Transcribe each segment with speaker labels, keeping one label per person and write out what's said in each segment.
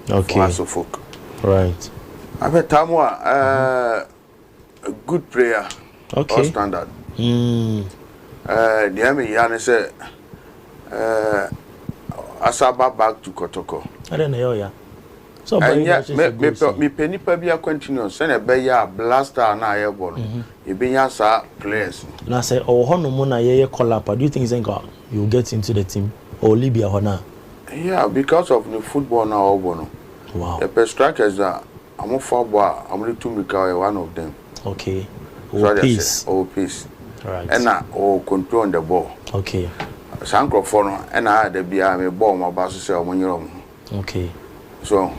Speaker 1: for Aso folk. Right.
Speaker 2: Afei Tamu
Speaker 1: a ɛɛ good player. Okay. All standard. Mm. Ɛɛ deɛ mi ya ne sɛ ɛɛ asaba back to kɔtɔkɔ. Ɛdɛ na yɛ ɔya.
Speaker 2: So ɔba yi na ɛhyɛ sɛ
Speaker 1: goals. Mi pɛ nipa bi a continuous sɛ na ɛbɛ yɛ a blaster na ayɛ bɔ no ebi nya saa players. Na sɛ ɔwɔ hɔ
Speaker 2: nom na yɛ yɛ call up a do you think sɛ nka you get into the team ɔwɔ Libya hɔ na Yeah because
Speaker 1: of ne football no a ɔbɔ no yɛpɛ
Speaker 2: strikers
Speaker 1: a ɔmo fa bɔ a ɔmo de tu mirika ɔyɛ one of them
Speaker 2: so ɔde aseɛ
Speaker 1: ɔwɔ pace ɛna
Speaker 2: ɔwɔ
Speaker 1: control on the ball
Speaker 2: saa nkorɔfoɔ no
Speaker 1: ɛna ayɛ da biara me bɔ ɔmo aba so sɛ ɔmo nyere ɔmo ho
Speaker 2: so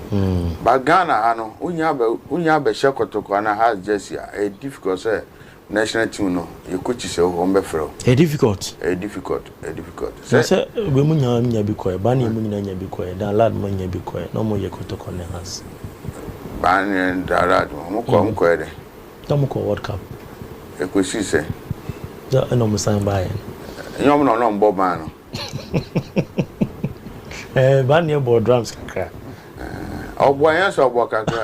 Speaker 1: but Ghana ha no wonnya abɛhyɛ kɔtɔkɔ anaa Hearts jersey a ɛyɛ difficult sɛ National team no yɛ coaches ɛwɔ hɔ wɔn bɛ frɛ wo. Ɛyɛ difficult. Ɛyɛ
Speaker 2: difficult ɛyɛ difficult.
Speaker 1: Sɛ. Na sɛ wei mu
Speaker 2: nyinaa nya bi kɔɛ baa ne mu nyinaa nya bi kɔɛ dan lad mo nya bi kɔɛ na wɔn yɛ kɔtɔkɔ ne has. Baa
Speaker 1: ne dan lad mo wɔn kɔ wɔn kɔɛ dɛ. Na wɔn kɔ world
Speaker 2: cup. Ɛkɔ sii
Speaker 1: sɛ. Na ɛna
Speaker 2: wɔn san baa yɛ no. Ɛnyɛ wɔn na wɔn na
Speaker 1: wɔn bɔ baa no.
Speaker 2: Ɛɛ baa ne yɛ bɔ drums kakra. Ɛɛ
Speaker 1: ɔbɔ ɛnyɛ sɛ ɔbɔ kakra.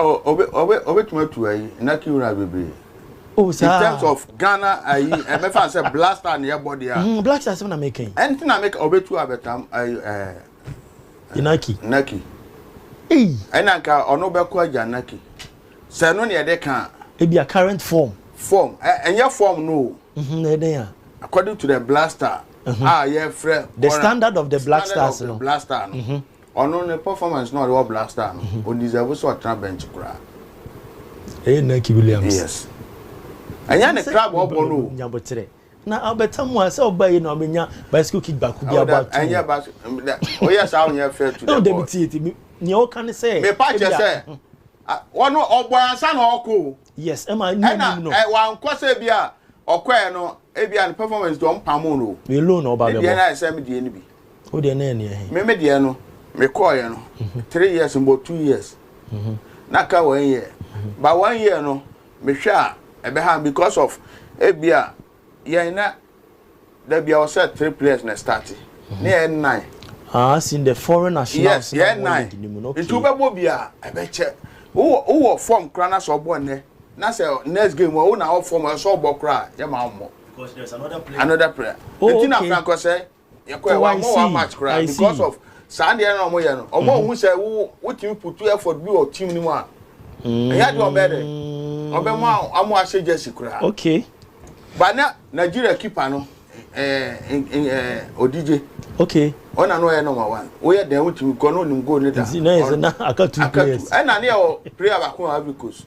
Speaker 2: Oh, obe, obe, obetumi atu ayi Naki Ura bebree. Oh, saa. In terms of Ghana ayi, ɛbɛfa sɛ Black Star na yɛbɔ deɛ a. Mm, Black Star sɛm na meka yi. Ɛnti na meka obetu
Speaker 1: abɛtam ayi ɛɛ. Eh, Naki.
Speaker 2: Naki. Ei.
Speaker 1: Ɛna nka ɔno bɛkɔ agya Naki. Sɛ ɛno na yɛde ka. Ebi a current
Speaker 2: form. Form, ɛnyɛ
Speaker 1: form no o. Mhm, na ɛdɛn a.
Speaker 2: According to the Black
Speaker 1: Star. Uh-huh. A yɛfrɛ. The standard of the
Speaker 2: Black Stars no. Standard of the Black Star no. Mhm.
Speaker 1: Ɔno ne performance na ɔde wɔ Black Star no, o deserve sɛ ɔtena bench koraa.
Speaker 2: Ɛyɛ Nike Williams. Yes.
Speaker 1: Ɛnyɛ ne club ɔbɔ no o. Nyabotrɛ. Na
Speaker 2: ɔbɛta mu a sɛ ɔba yi na ɔbɛnya bicycle kick baako bi abɔ ato. Ɛnyɛ ba
Speaker 1: oyɛ saa onyɛ fair to the boy. Ɛwɔ dɛbi tie ti
Speaker 2: nea ɔka ne sɛ. Mepa kyɛ sɛ
Speaker 1: wɔn ɔbɔ ansa na ɔkɔ o. Yes, ɛma ne Ɛna anim
Speaker 2: no. ɛ, wankɔ
Speaker 1: sɛ ebi a ɔkɔɛ no ebi a ne performance deɛ ɔmpamoo no o. Wei loan na ɔba Ne deɛ abɛbɔ.
Speaker 2: no ayɛ sɛ me deɛ no bi.
Speaker 1: Wo deɛ na ɛneɛ he?
Speaker 2: Me me deɛ no
Speaker 1: mekɔɔeɛ no three years mbɔ two years na aka one year but one year no mehwɛ a ɛbɛha me because of ebi a yɛn na da bia wɔ sɛ three players na starte ne yɛ nnan. Ah, sin the
Speaker 2: foreign nationals na wɔn league ni
Speaker 1: mu no. Nti wobɛbɔ bi a ɛbɛkyɛ. Wowɔ wowɔ form kora na sɛ ɔbɔ nnɛ na sɛ next game wo na wɔ form ɛsɛ ɔbɔ kora yɛ ma ɔmmɔ. Because there's another player. Another player. Oh, Nti na okay. Franco sɛ yɛkɔɛ oh, wɔammɔ wɔn match koraa because of saa deɛ na wɔyɛ no wɔn ahu sɛ wo wotumi putu effort bi wɔ team no mu a ɛyɛ adeɛ wɔbɛyɛ dɛ wɔbɛmo a wɔn ahyɛ jersey koraa okay
Speaker 2: but na
Speaker 1: nigeria keeper no ɛɛ ɛɛ odigye okay ɔna
Speaker 2: no ɔyɛ number
Speaker 1: one woyɛ dɛn wotumi kɔ no onim goal ne da nti na yɛ sɛ na aka
Speaker 2: two players ɛna ne yɛ wɔ player
Speaker 1: baako a ivory coast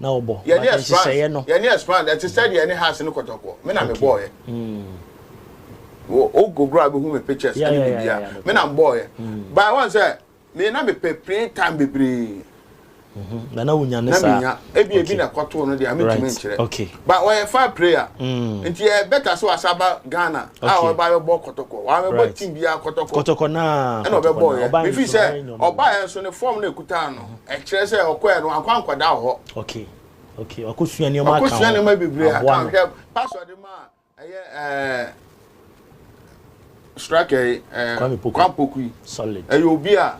Speaker 1: na wɔbɔ yɛne
Speaker 2: nhyehyɛeɛ no
Speaker 1: yɛne ɛspan ɛte sɛ deɛ yɛne has ne kɔtɔkɔ me na mebɔɔyɛ wogogoro a bɛhu me pictures ɛne biribia me na mbɔɔyɛ by wɔn sɛ me na mepɛ play time bebree na
Speaker 2: na wonya ne saa na menya ebi ebi na kɔtoo
Speaker 1: no deɛ metumi nkyerɛ ba ɔyɛ
Speaker 2: fa prayer
Speaker 1: nti yɛ bɛta sɛ wasa ba Ghana a ɔba yɛbɔ kɔtɔkɔ wa mebɔ team biara kɔtɔkɔ kɔtɔkɔ na ɛna ɔbɛbɔɔyɛ mefi sɛ ɔbaeɛ nso ne fam na ɛkutaa no Ɛkyerɛ
Speaker 2: sɛ ɔkɔɛ no wankɔ ankɔda wɔ hɔ. Okay okay wakɔ sua nneɛma aka ho. Wakɔ sua nneɛma bebree aka
Speaker 1: ho. Hwɛ pastor de ma ɛyɛ ɛɛ striker yi ɛɛ Kwame Poku yi. Solid. Ɛyɛ
Speaker 2: obi a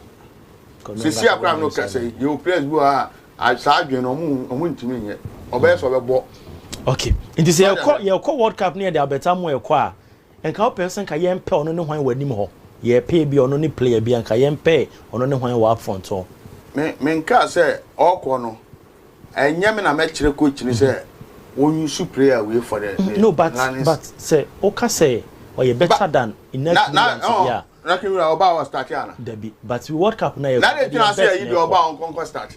Speaker 1: sisi akora no kasa yi yɛ players bi wɔ ha saa adwene no ɔmo ɔmo ntumi nyɛ ɔbɛyɛ sɛ ɔbɛbɔ. Okay
Speaker 2: nti sɛ yɛkɔ yɛkɔ world cup ne yɛ de Albert Amoa ɛkɔ a Nka wo pɛ sɛ nka yɛn pɛ ɔno ne hwan wɔ anim hɔ yɛ pɛ ebia ɔno ne player bi a nka yɛn pɛ ɔno ne hwan wɔ up front hɔ. Me me nkaa sɛ ɔɔkɔ no ɛnyɛ me na mɛ kyerɛ coach no sɛ wɔn
Speaker 1: use player wei for the the no but Lions. but
Speaker 2: sɛ woka sɛ ɔyɛ better ba than Ineas Williams deɛ a. Na na ɔn Raheem
Speaker 1: Williams ɔbaa ɔstarte ana. Dabi but world
Speaker 2: cup no a yɛ kɔ no deɛ best na ɛkɔ. Na de tena ase a yi deɛ
Speaker 1: ɔbaa ɔnkɔ nkɔ starte.